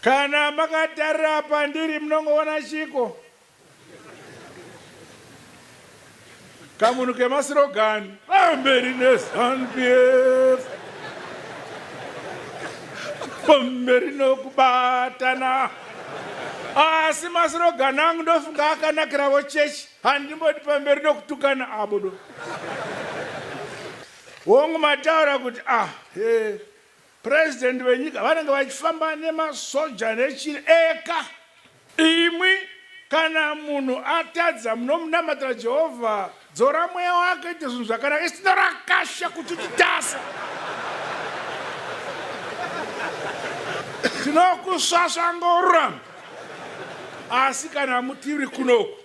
Kana makatarira pandiri munongoona chiko kamunhu kemasirogani pamberi nezanupf pamberi nokubatana asi masirogani angu ndofunga akanakiravo chechi handimboti pamberi nokutukana abodo hongu mataura kuti ah he President venyika vanenge vachifamba nemasoja nechiri eka imwi kana munhu atadza munomunamatira Jehovha dzora mweya wake ite zvinhu zvakanaka isina rakasha kuti titasa tinokusvasva ngorurama asi kana mutiri kunoku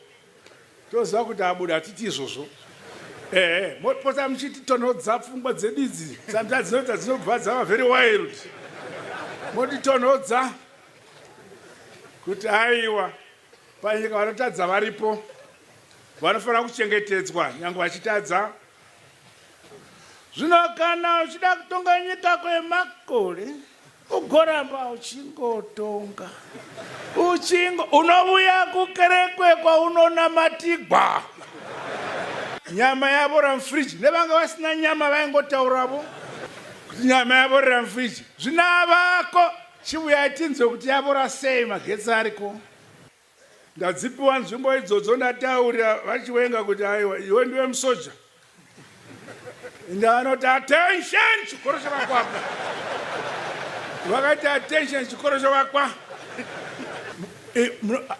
Toziva kuti abuda hatiti izvozvo. Ehe, mopota muchiti tonhodza pfungwa dzedu idzi. Sometimes dzinoita dzinobva dzava very wild. Moti tonhodza kuti aiwa panyika vanotadza varipo vanofanira kuchengetedzwa nyange vachitadza zvino kana uchida kutonga nyika kwemakore ugoramba uchingotonga uchingo unovuya kukerekwe kwaunonamatibwa nyama yavo ramfriji nevanga vasina nyama vaingotauravo kuti nyama yavo ramfriji zvinavako chivuyai tinzwe kuti yavora sei magetsi ariko Ndadzipiwa nzvimbo idzodzo ndataurira vaChiwenga kuti aiwa iwe ndiwe musoja. Ende anoti attention chikoro chavakwa apa. Vakaita attention chikoro chavakwa.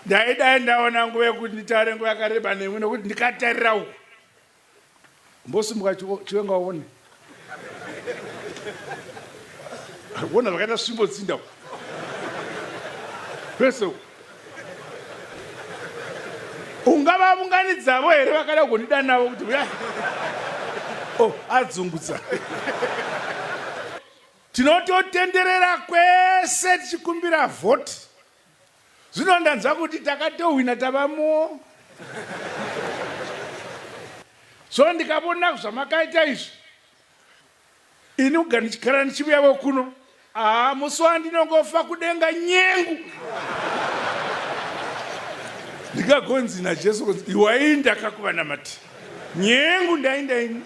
Ndaidai ndaona nguva yekuti nditaure nguva yakareba nemwi nekuti ndikatarira uku Mbosimuka chiwenga waone. Wona vakaita svimbo dzinda. Pese. Ungava vungani dzavo here vakada kundida navo kuti uya. Oh, adzungudza. Tinototenderera kwese tichikumbira vote. Zvino ndanzwa kuti takatohwina tava mu so ndikavona zvamakaita izvi ini uga ndichigara ndichivuyavo kuno aa musi wandinongofa kudenga nyengu ndikagonzi najesu kunzi iwai ndakakuvanamati nyengu ndaindaini